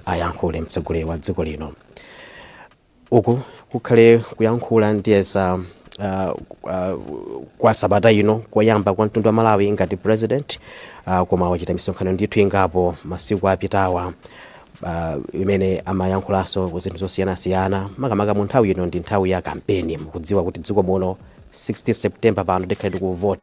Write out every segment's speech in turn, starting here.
ayankhule mtsogoleri wa dziko lino uku kukhale kuyankhula ndiyesa uh, uh, kwa sabata ino koyamba kwa mtundu wa malawi ngati president uh, koma wachita misonkhano ndithu ingapo masiku apitawa uh, imene amayankhulanso ku zinthu zosiyanasiyana makamaka mu nthawi ino ndi nthawi ya kampeni mukudziwa kuti dziko muno 16 september pano tikhale tikuvota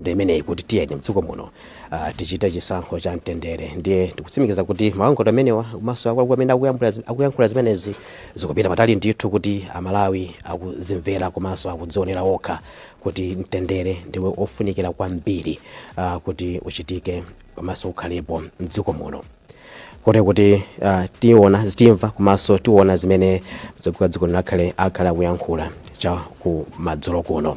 ndi imeneyi kuti tiyeni mdziko muno uh, tichite chisankho cha mtendere ndiye tikutsimikiza kuti malangizo amenewa komanso akuluakulu amene akuyambula zi- akuyankhula zimenezi zikupita patali ndithu kuti amalawi akuzimvera komanso akudzionera okha kuti mtendere ndi ofunikira kwambiri uh, kuti uchitike komanso ukhalepo mdziko muno kote kuti uh, tiona zitimva komanso tiona zimene mtsogoleri wa dziko lino akhale akhale akuyankhula cha ku madzulo kuno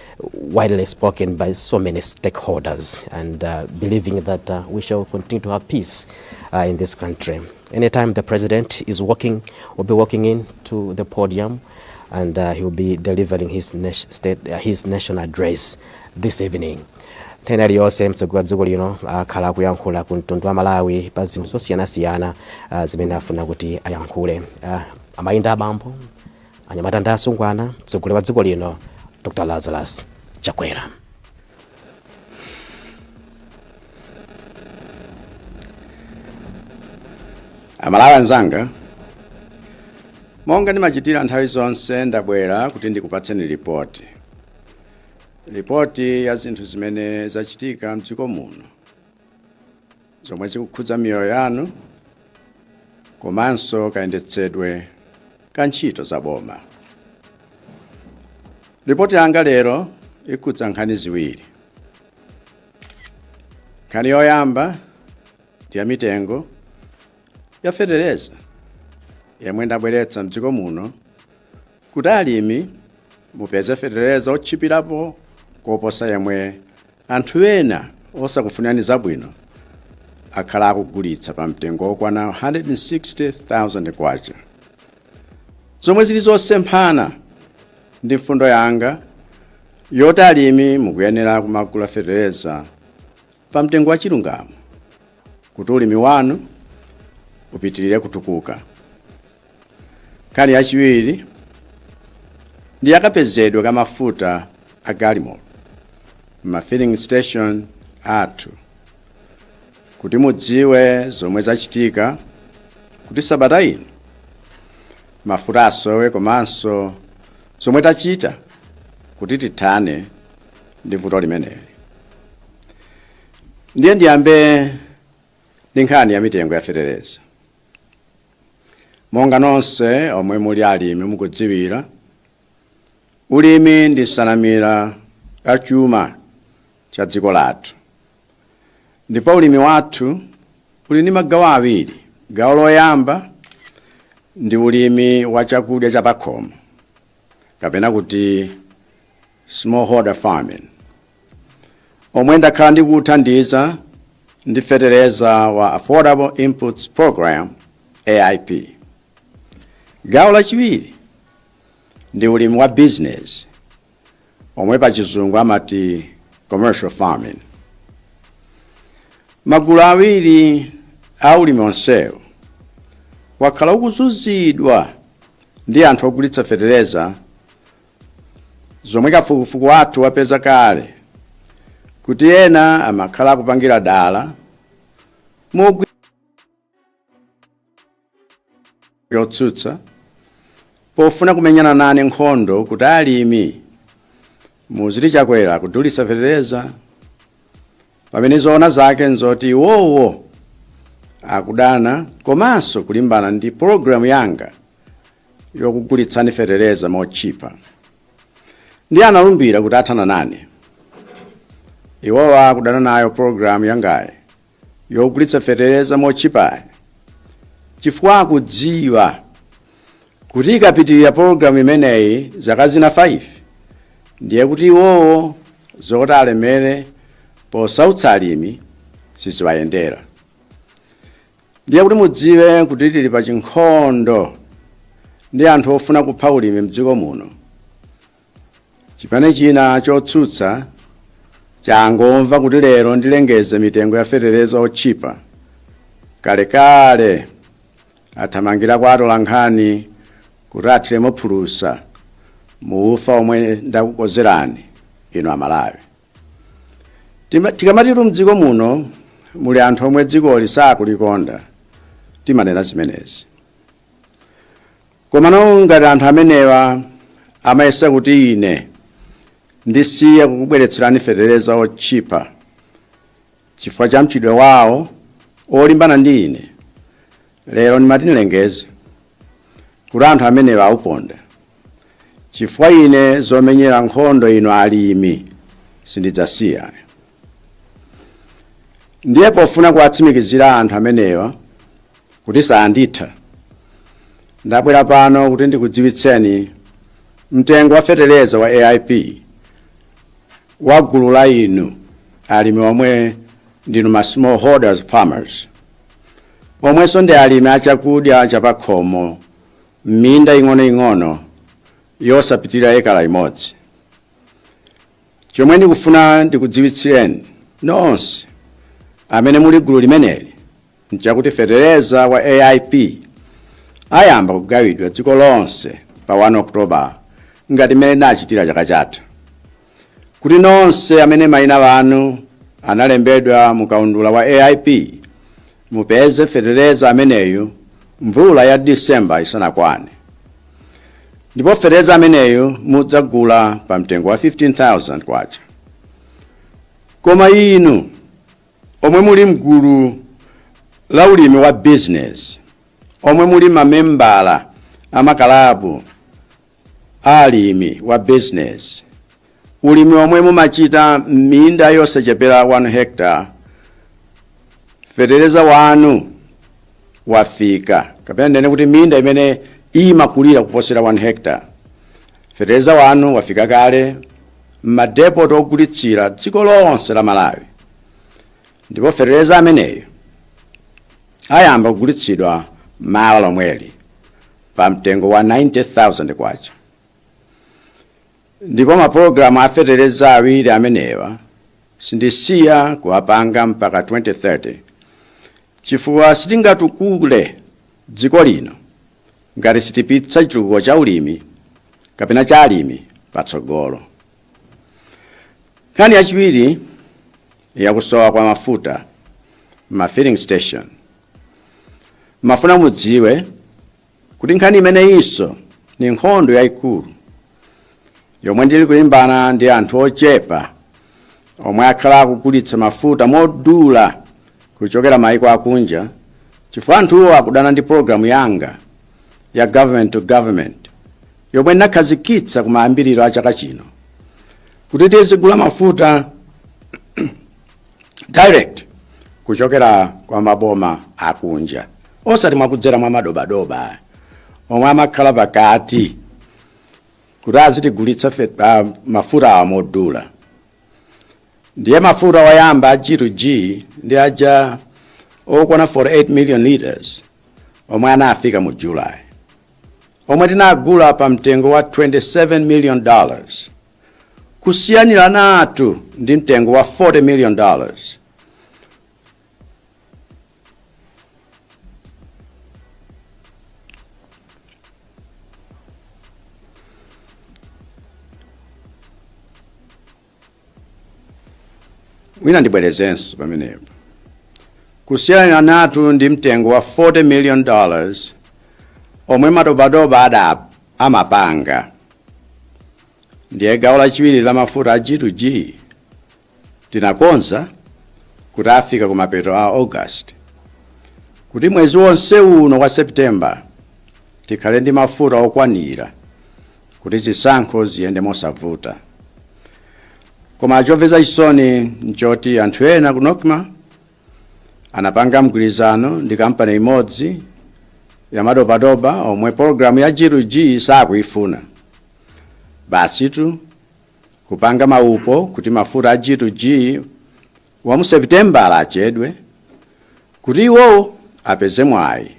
widely spoken by so many stakeholders and uh, believing that uh, we shall continue to have peace uh, in this country. Anytime the president is walking, will be walking in to the podium and uh, he will be delivering his, na state, uh, his national address this evening. nthawi iliyonse mtsogoleri wa dziko lino akhala akuyankhula ku mtundu wa malawi pa zinthu zosiyanasiyana ah, zimene afuna kuti ayankhule Ah, amayi ndi abambo anyamata ndi asungwana mtsogoleri wa dziko lino dr lazarus chakwera amalawi anzanga monga ndimachitira nthawi zonse ndabwera kuti ndikupatseni ripoti ripoti ya zinthu zimene zachitika mdziko muno zomwe zikukhudza miyoyo yanu komanso kayendetsedwe ka ntchito za boma. Lipoti yanga lero ikhudza nkhani ziwiri. Nkhani yoyamba ndi ya mitengo ya fetereza yemwe ndabweretsa mdziko muno Kuti alimi mupeze fetereza otchipirapo koposa yemwe anthu ena osakufunirani zabwino akhala akugulitsa pa mtengo wokwana 160,000 kwacha, zomwe zili zosemphana ndi mfundo yanga yoti alimi mukuyenera kumagula fetereza pa mtengo wachilungamo kuti ulimi wanu upitirire kutukuka. nkhani yachiwiri ndi yakapezedwe ka mafuta a galimoto ma filling station athu kuti mudziwe zomwe zachitika kuti sabata ino mafuta asowe komanso zomwe tachita kuti tithane ndi vuto limeneli ndiye ndiyambe ndi nkhani ya mitengo ya fetereza monga nonse omwe muli alimi mukudziwira ulimi ndi nsanamira ya chuma cha dziko lathu ndipo ulimi wathu uli ndi magawo awiri gawo loyamba ndi ulimi wa chakudya cha pakhomo kapena kuti smallholder farming, omwe ndakhala ndikuwuthandiza ndi fetereza wa Affordable Inputs Program, AIP. Gawo lachiwiri ndi ulimi wa bizinesi omwe pa chizungu amati commercial farming. Magulu awiri a ulimi onsewu wakhala ukuzunzidwa ndi anthu ogulitsa fetereza Zomwe kafukufuku wathu wapeza kale kuti ena amakhala akupangira dala mogwi yotsutsa pofuna kumenyana nane nkhondo kuti alimi muziti chakwera kudulitsa fetereza pamene zoona zake nzoti iwowo akudana komanso kulimbana ndi pologalamu yanga yokugulitsani fetereza motchipa ndi analumbira kuti athana nane iwowo akudana nayo pologalamu yangayi yokugulitsa fetereza motchipayi chifukwa akudziwa kuti ikapitirira pologalamu imeneyi zaka zina 5 ndiye kuti iwowo zoti alemere posautsa alimi siziwayendera ndiye kuti mudziwe kuti tili pa chinkhondo ndi anthu ofuna kupha ulimi mdziko muno chipani china chotsutsa changomva kuti lero ndilengeze mitengo ya fetereza otchipa kalekale athamangira kwa atolankhani kuti athiremo phulusa mu ufa omwe ndakukozerani inu amalawi Tima- tikamatitu mdziko muno muli anthu omwe dzikoli sakulikonda timanena zimenezi Komano ngati anthu amenewa amayesa kuti ine ndisiya kukubweretserani fetereza wotchipa chifukwa cha mchitidwe wawo olimbana ndi ine, lero ndimati ndilengeze kuti anthu amenewa auponda chifukwa ine zomenyera nkhondo inu alimi sindidzasiya. Ndiye pofuna kuwatsimikizira anthu amenewa kuti sanditha ndabwera pano kuti ndikudziwitseni mtengo wa fetereza wa AIP wa gulu la inu alimi omwe ndinu ma smallholders farmers omwenso ndi alimi achakudya chapakhomo m'minda ing'onoing'ono yosapitirira ekala imodzi chomwe ndikufuna ndikudziwitsireni nonse amene muli gulu limeneli nchakuti fetereza wa AIP ayamba kugawidwa dziko lonse pa 1 October ngati mmene ndinachitira chaka chatha kuti nonse amene mayina anu analembedwa mu kaundula wa AIP mupeze fetereza ameneyu mvula ya December isanakwane ndipo fetereza ameneyu mudzagula pa mtengo wa 15,000 kwacha koma inu omwe muli mgulu la ulimi wa business omwe muli mamembala amakalabu a alimi wa business ulimi omwe mumachita m'minda yosachepera 1 hectare fetereza wanu wafika kapena ndinene kuti minda imene imakulira kuposera 1 hectare Feteleza wanu wafika kale m'madepoti ogulitsira dziko lonse la Malawi ndipo feteleza ameneyo ayamba kugulitsidwa mawa lomweli pa mtengo wa 90,000 kwacha ndipo mapulogalamu a feteleza awiri amenewa sindisiya kuwapanga mpaka 2030 chifukwa sitingatukule dziko lino ngati sitipititsa chitukuko cha ulimi kapena cha alimi patsogolo. Nkhani yachiwiri yakusowa kwa mafuta m'ma filling station. Ndimafuna mudziwe kuti nkhani imeneyinso ni nkhondo yayikulu yomwe ndili kulimbana ndi anthu ochepa omwe akhala akugulitsa mafuta modula kuchokera maiko akunja chifukwa anthuwo akudana ndi pologalamu yanga ya government to government yomwe ndinakhazikitsa kumayambiriro a chaka chino kuti tizigula mafuta direct kuchokera kwa maboma akunja osati mwakudzera mwa madobadoba omwe amakhala pakati kuti azitigulitsa mafutawa modula ndiye mafuta oyamba a g to g ndi aja okwana 48 million liters omwe anafika mu july omwe tinagula pa mtengo wa 27 million dollars kusiyaniranatu ndi mtengo wa 40 million dollars mwina ndibwerezenso pamenepo kusiyaniranatu ndi mtengo wa 40 million dollars omwe madobadoba amapanga ndiye gawo lachiwiri la mafuta a g2g Tinakonza kuti afika kumapeto a August kuti mwezi wonse uno wa September tikhale ndi mafuta okwanira kuti zisankho ziyende mosavuta. Koma chomvetsa chisoni nchoti anthu ena ku Nocma anapanga mgwirizano ndi kampani imodzi yamadobadoba omwe pologalamu ya G2G sakuifuna. Basitu kupanga maupo kuti mafuta a G2G wa mu Sepitemba achedwe kuti iwowo apeze mwayi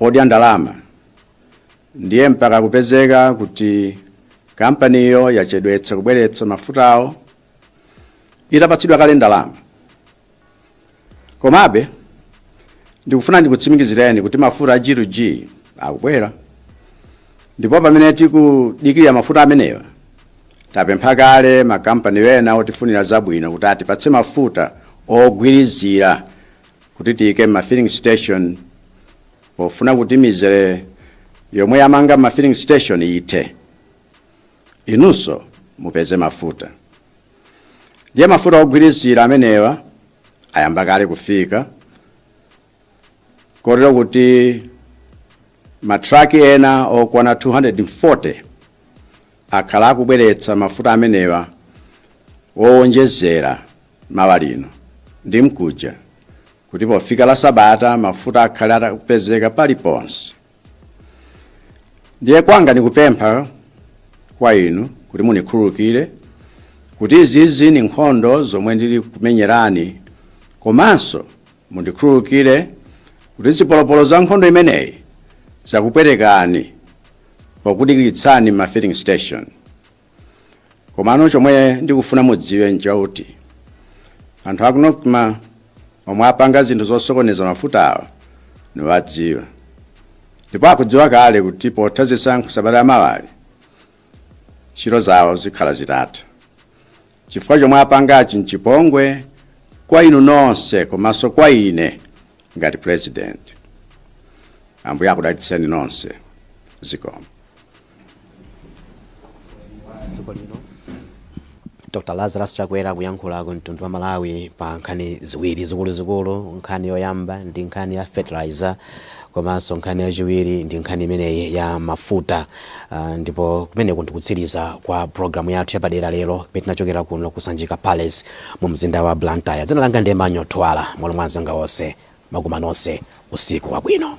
odya ndalama ndiye mpaka kupezeka kuti kampaniyo yachedwetsa kubweretsa mafutawo itapatsidwa kale ndalama komabe ndikufuna ndikutsimikizireni kuti mafuta a g to g akubwera ndipo pamene tikudikirira mafuta amenewa tapempha kale makampani ena otifunira zabwino kuti atipatse mafuta ogwirizira kuti tiyike m'ma filling station pofuna kuti mizere yomwe yamanga m'ma filling station ithe inunso mupeze mafuta ndiye mafuta ogwirizira amenewa ayamba kale kufika kotero kuti matraki ena okwana 240 akhala akubweretsa mafuta amenewa owonjezera mawa lino ndi mkuja kuti pofika la sabata mafuta akhale akupezeka paliponse ndiye kwanga ndikupempha kwa inu kuti munikhululukire kuti izizi ni nkhondo zomwe ndili kumenyerani komanso mundikhululukire kuti zipolopolo za nkhondo imeneyi zakupwetekani pokudikiritsani m'ma filling station komano chomwe ndikufuna mudziwe nchakuti anthu aku nocma omwe apanga zinthu zosokoneza mafuta awa niwadziwa ndipo akudziwa kale kuti potha zisankho sabata yamawayi ntchito zawo zikhala zitatha chifukwa chomwe apangachi nchipongwe kwa inu nonse komanso kwa ine ngati president ambuye akudalitseni nonse zikomo dziko lino dr lazarus chakwera kuyankhula ku mtundu wa malawi pa nkhani ziwiri zikuluzikulu nkhani yoyamba ndi nkhani ya fertilizer komanso nkhani yachiwiri ndi nkhani imeneyi ya mafuta uh, ndipo kumeneko ndikutsiriza kwa programu yathu yapadera lero pamene tinachokera kuno kusanjika palace mu mzinda wa blantyre dzina langa ndi emmanuel thuwala m'malo mwa anzanga onse takufunirani nonse usiku wabwino